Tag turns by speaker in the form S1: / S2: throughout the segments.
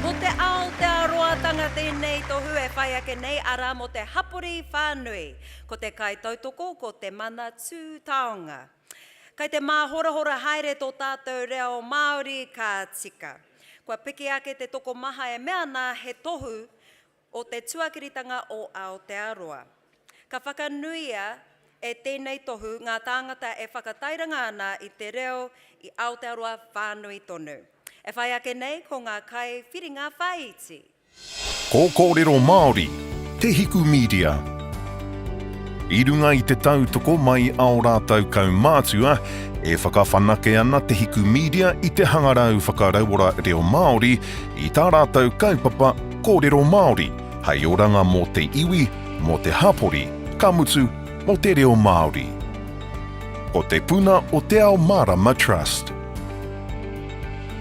S1: Ko te Aotearoatanga tēnei tohu e whai ake nei, arā, mō te hapori whānui. Ko te kaitautoko ko Te Manatū Taonga. Kei te māhorahora haere tō tātou reo Māori, ka tika. Kua piki ake te tokomaha e mea ana he tohu, o te tuakiritanga o Aotearoa. Ka whakanuia e tēnei tohu ngā tāngata e whakatairanga ana i te reo i Aotearoa whānui tonu. E whai ake nei ko ngā kaiwhiringa whāiti. Ko
S2: Kōrero Māori te hiku mīdia. I runga i te tautoko mai ao rātou kaumātua, e whakawhanake ana te hiku mīdia i te hangarau whakarauora reo Māori i tā rātou kaupapa, Kōrero Māori, hei oranga mō te iwi, mō te hapori, ka mutu, mō te reo Māori. Ko Te Puna o Te Ao Mārama Trust.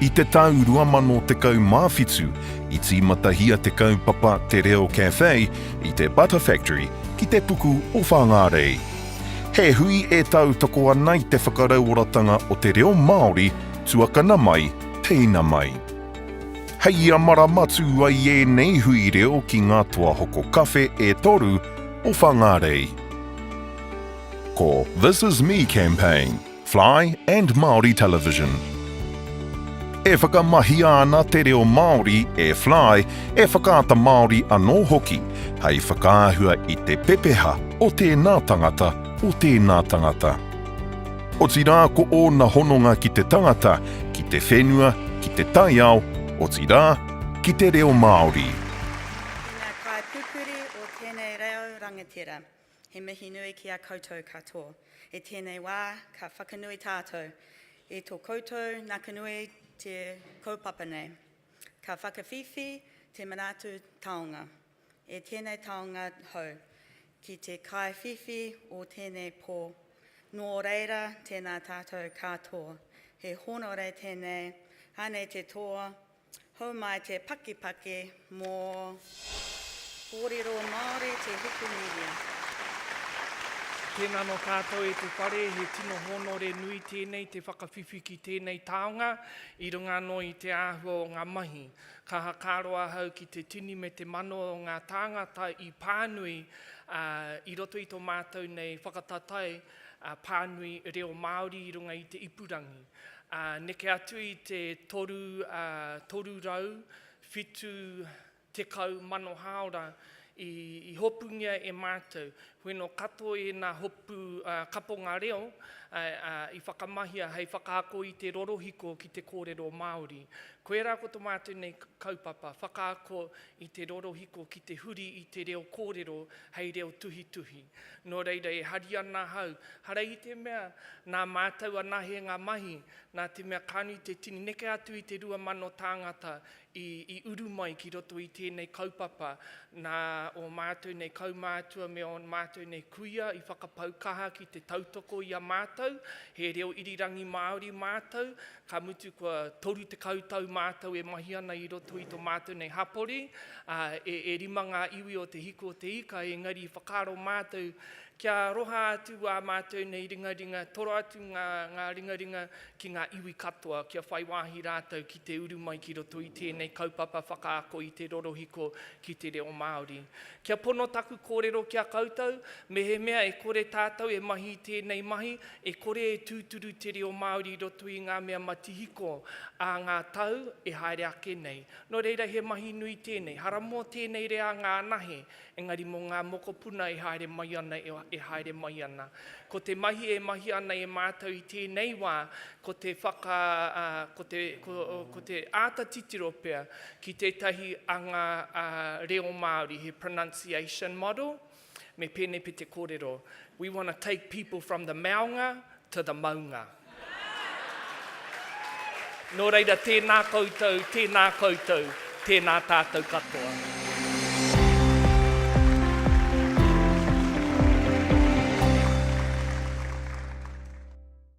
S2: I te tau 2017, i tīmatahia te kaupapa Te Reo Cafe i te Butter Factory ki te puku o Whāngārei. He hui e tautoko ana i te whakarauoratanga o te reo Māori tuakana mai, teina mai. Hei ia marama tū ai ēnei hui reo ki ngā toa hoko kawhe e toru o Whangārei. Ko This Is Me Campaign, Fly and Māori Television. E whakamahia ana te reo Māori e Fly, e Whakaata Māori anō hoki, hei whakaahua i te pepeha o tēnā tangata, o tēnā tangata. Otirā ko ōna hononga ki te tangata, ki te whenua, ki te taiao, otirā, ki te reo Māori. Ki ngā
S3: kaipupuri o tēnei reo rangatira, he mihi nui ki a koutou katoa. I tēnei wā, ka whakanui tātou i tō koutou nakanui te kaupapa nei. Ka whakawhiwhi te Manatu Taonga. E tēnei taonga hou, ki te kaiwhiwhi o tēnei pō, nō reira tēnā tātou kātoa, he hōnore tēnei, anei te toa, hou mai te pakipaki mō kōrero Māori te Wikimedia. Tēnā
S4: anō tātou e te whare, he tino hōnore nui tēnei te whakawhiwhi ki tēnei taonga, i runga anō i te āhua o ngā mahi. Ka whakaaro ahau ki te tini me te mano o ngā tāngata i pānui i roto i tō mātou nei whakataetae pānui reo Māori i runga i te ipurangi. Neke atu i te 370 mano hāora I hopungia e mātou. Wheno katoa ēnā hopu kaponga reo i whakamahia hei whakaako i te rorohiko ki te kōrero Māori. Koirā ko to mātou nei kaupapa, whakaako i te rorohiko ki te huri i te reo kōrero hei reo tuhituhi. Nō reira e hari ana ahau, hara i te mea nā mātou anahe ngā mahi, nā te mea ka nui te tini neke atu i te 2,000 tāngata i uru mai ki roto i tēnei kaupapa, nā ō mātou nei kaumātua me ō mātou nei kuia i whakapau kaha ki te tautoko i a mātou, he reo irirangi Māori mātou, ka mutu kua 30 tau mātou e mahi ana i roto i tō mātou nei hapori, ā, e, e rima ngā iwi o Te Hiku o Te Ika, engari i whakaaro mātou kia aroha atu ā mātou nei ringaringa, toro atu ngā, ngā ringaringa ki ngā iwi katoa kia whai wāhi rātou ki te uru mai ki roto i tēnei kaupapa whakaako i te rorohiko ki te reo Māori. Kia pono taku kōrero ki a koutou, mehemea e kore tātou e mahi i tēnei mahi, e kore e tūturu te reo Māori i roto i ngā mea matihiko ā ngā tau e haere ake nei. Nō reira he mahi nui tēnei. Hara mō tēnei reanga anahe Engari mō ngā mokopuna e haere mai ana, e haere mai ana. Ko te mahi e mahia ana e mātou i tēnei wā, ko te whaka, ko te, ko te āta titiro pea ki tētahi anga reo Māori, he pronunciation model, me pēnei pea te kōrero, We want to take people from the maunga to the maunga. Nō reira, tēnā koutou, tēnā koutou, tēnā tātou katoa.